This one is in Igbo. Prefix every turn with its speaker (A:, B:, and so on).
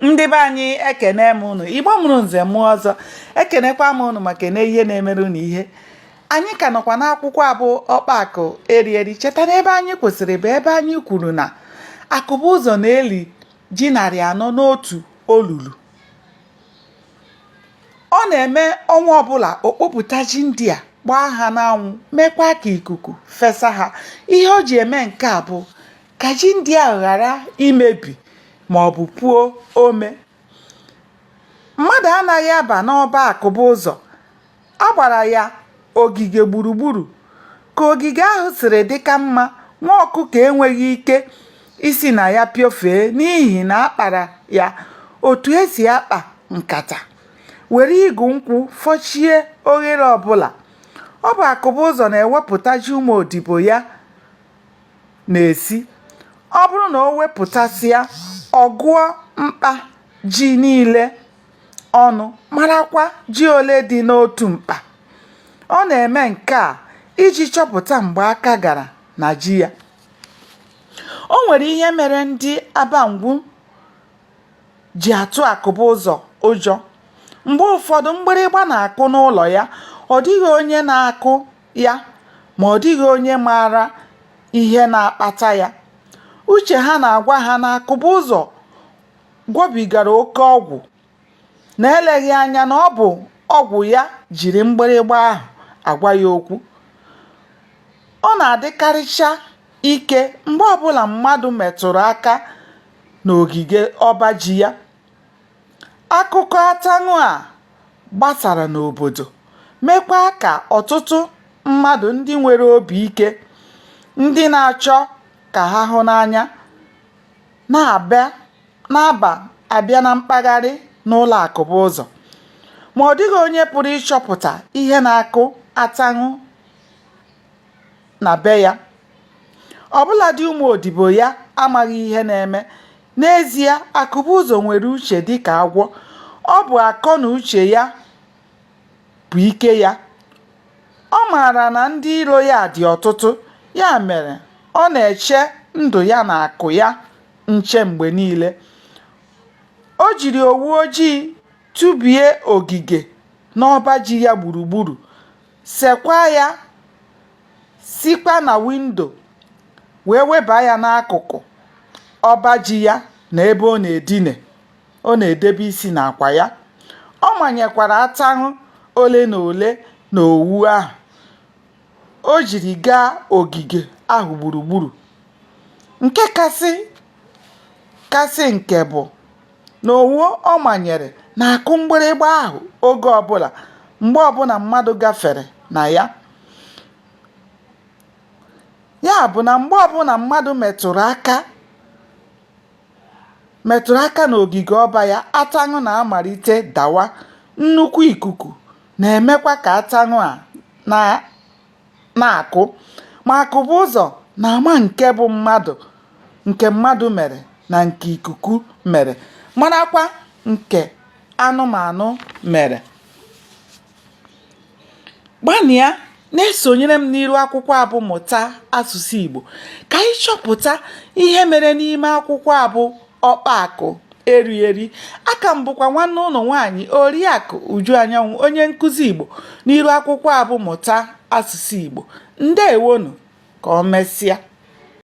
A: ndị be anyị ekene m ụnụ igbo mụrụ nze mụọ ọzọ ekenekwa m ụnụ maka na ihe na-emere ụnụ ihe anyị ka nọkwa n'akwụkwọ a bụ ọkpa akụ eri eri cheta na ebe anyị kwụsịrị bụ ebe anyị kwuru na akụbụzọ na-eli ji narị anọ n'otu olulu ọ na-eme ọnwa ọbụla o kpopụta ji ndị a gbaa ha n'anwụ mekwa ka ikuku fesa ha ihe o ji eme nke a bụ ka ji ndị a ghara imebi ma ọ bụ puo ome mmadụ anaghị aba n'ọba akụbụzọ a gbara ya ogige gburugburu ka ogige ahụ siri dị ka mma nwa ọkụkọ enweghị ike isi na ya piofee n'ihi na a kpara ya otu e si akpa nkata were igu nkwụ fochie oghere ọbụla ọ bụ akụbụzọ na-ewepụta ji ụmụ odibo ya na-esi ọ bụrụ na o wepụtasịa ọ gụọ mkpa ji niile ọnụ marakwa ji ole dị n'otu mkpa ọ na-eme nke a iji chọpụta mgbe aka gara na ji ya o nwere ihe mere ndị abangwu ji atụ akụbụzọ ụjọ mgbe ụfọdụ mgbịrịgba na-akụ n'ụlọ ya ọ dịghị onye na-akụ ya ma ọ dịghị onye maara ihe na-akpata ya. Uche ha na-agwa ha na Akụbụzọ gwọbigara oke ọgwụ na eleghị anya na ọ bụ ọgwụ ya jiri mgbịrịgba ahụ agwa ya okwu. Ọ na-adịkarịcha ike mgbe ọbụla mmadụ metụrụ aka n'ogige ọba ji ya. Akụkọ ataṅụ a gbasara n'obodo mekwa ka ọtụtụ mmadụ ndị nwere obi ike, ndị na-achọ ka ha hụ n'anya na-aba abịa na mkpagharị n'ụlọ Akụbụzọ. Ma ọ dịghị onye pụrụ ịchọpụta ihe na-akụ ataṅụ na be ya. Ọbụladị ụmụ odibo ya amaghị ihe na-eme N'ezie, Akụbụzọ nwere uche dị ka agwọ. Ọ bụ akọ na uche ya bụ ike ya. Ọ maara na ndị iro ya dị ọtụtụ, ya mere ọ na-eche ndụ ya na akụ ya nche mgbe niile. O jiri owu ojii tụbie ogige n'ọba ji ya gburugburu sekwa ya sikwa na windo wee weba ya n'akụkụ ọba ji ya na ebe ọ na-edine ọ na-edebe isi n'akwa ya ọ manyekwara ataṅụ ole na ole na owu ahụ o jiri gaa ogige ahụ gburugburu nke kasị nke bụ na owu ọ manyere na-akụ mgbịrịgba ahụ oge ọbụla mgbe ọbụla mmadụ gafere na ya ya bụ na mgbe ọbụla mmadụ metụrụ aka metụrụ aka n'ogige ọba ya ataṅụ na-amalite dawa nnukwu ikuku na-emekwa ka ataṅụ a na na-akụ ma Akụbụụzọ na-ama nke bụ mmadụ nke mmadụ mere na nke ikuku mere marakwa nke anụmanụ mere gbanịa na-esonyere m n'iru akwụkwọ a bụ mụta asụsụ Igbo ka anyị chọpụta ihe mere n'ime akwụkwọ a bụ ọkpa akụ eri eri aka m bụkwa nwanne ụnụ nwaanyị oriakụ uju anyanwụ onye nkụzi igbo n'iru akwụkwọ a bụ mụta asụsụ igbo ndewonu ka o mesịa